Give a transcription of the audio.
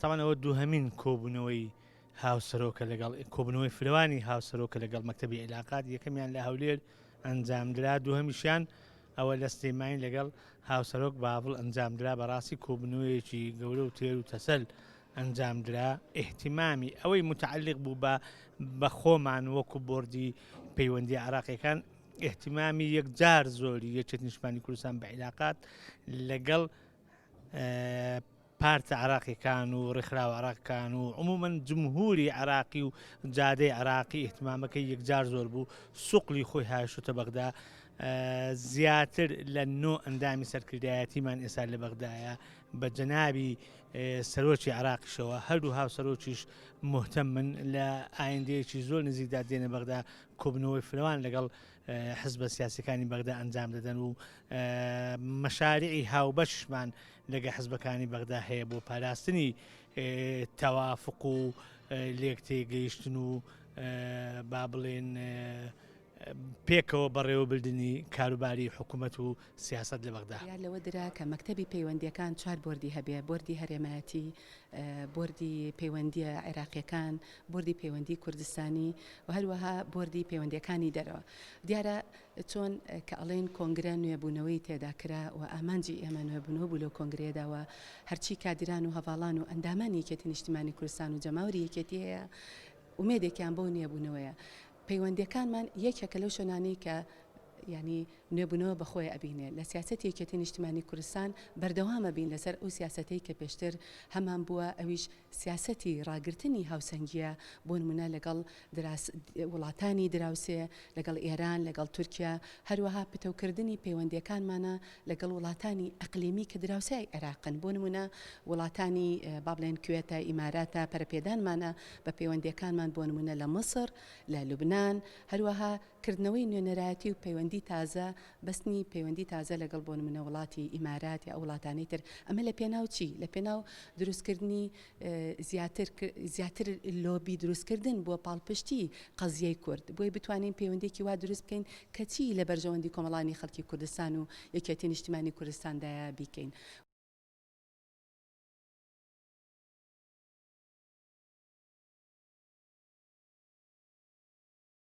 تاوان ئەوە دووهمین کۆبوونەوەی هاوسەرۆکە لەگەڵ کۆبنەوەی فرەوانی هاوسەرۆکە لەگەڵ مەکتتەبی عیلاقات یەکەمیان لە هەولێر ئەنجامدرا دووهمیشیان ئەوە لە سلێمانی لەگەڵ هاوسەرۆک باڤڵ ئەنجامدرا بەڕاستی کۆبنەوەیەکی گەورە و تێر و تەسەل ئەنجامدرا ئیحتیمامی ئەوەی متعلق بوو بە بە خۆمان وەکو بردی پەیوەندی عراقیەکان ئیهتیمامی یەکجار زۆری یەکێتی نیشتمانی کوردستان بە عیلاقات لەگەڵ پارتە عراقیەکان و ڕێکخراوە عراقکان و عمومەن جمهوری عراقی و جادەی عراقی احتمامەکەی یەکجار زۆر بوو سوقلی خۆی هاشتە بەغدا زیاتر لە نۆ ئەندامی سەرکردایەتیمان ئێستا لە بەغدایە بە جەنابی سەرۆکی عراقیشەوە هەردوو هاوسەرۆکیش مهتە من لە ئایندەیەکی زۆر نزیکدا دێنە بەغدا کۆبوونەوەی فرەوان لەگەڵ حزبە سیاسەکانی بەغدا ئەنجام دەدەن و مەشارعی هاوبەشمان لەگە حزبەکانی بەغدا هەیە بۆ پاراستنی تەوافق و لێک تێگەیشتن و با بڵێن پێکەوە بەڕێوەبردننی کاروباری حکوومەت و سیاسەت لە بەغدا. بڕیار لەوە درا کە مەکتەبی پەیوەندییەکان چوار بۆردی هەبێ، بۆردی هەرێمایەتی، بۆردی پەیوەندییە عێراقییەکان، بۆردی پەیوەندیی کوردستانی و هەروەها بۆردی پەیوەندییەکانی دەرەوە. دیارە چۆن کە ئەڵێن کۆنگرە نوێبوونەوەی تێدا کرا و ئامانجی ئێمە نوێبوونەوە بوو لەو کۆنگرەیەدا و هەرچی کادیران و هەڤاڵان و ئەندامانی یەکێتی نیشتیمانی کوردستان و جەماوەری یەکێتی هەیە ئومێدێکیان بەو نوێبوونەوەیە پەیوەندییەکانمان یەکێکە لەو شوێنانەی کە یانی نوێبونەوە بەخۆی ئەبینێ لە سیاسەتی یەکێتی نیشتمانی کوردستان بەردەوام ئەبین لەسەر ئەو سیاسەتەی کە پێشتر هەمان بووە ئەویش سیاسەتی ڕاگرتنی هاوسەنگیە بۆ نمونە لەگەڵ دراس وڵاتانی دراوسێ لەگەڵ ئێران لەگەڵ تورکیا هەروەها پتەوکردنی پەیوەندیەکانمانە لەگەڵ وڵاتانی ئەقلیمی کە دراوسێی عێراقن بۆ نمونە وڵاتانی با بڵێن کوێتە ئیماراتە پەرەپێدانمانە بە پەیوەندیەکانمان بۆ نمونە لە مصر لە لوبنان هەروەها کردنەوەی نوێنەرایەتی و پەیوەندی تازە، بەستنی پەیوەندی تازە لەگەڵ بۆ نمونە وڵاتی ئیمارات یا ئەو وڵاتانەی تر، ئەمە لە پێناو چی؟ لە پێناو دروست کردنی زیاتر زیاتر لۆبی دروست کردن بۆ پاڵپشتی قەزیەی کورد بۆی بتوانین پەیوەندیەکی وا دروست بکەین کە چی لە بەرژەوەندی کۆمەڵانی خەڵکی کوردستان و یەکێتی نیشتیمانی کوردستان دایە بیکەین.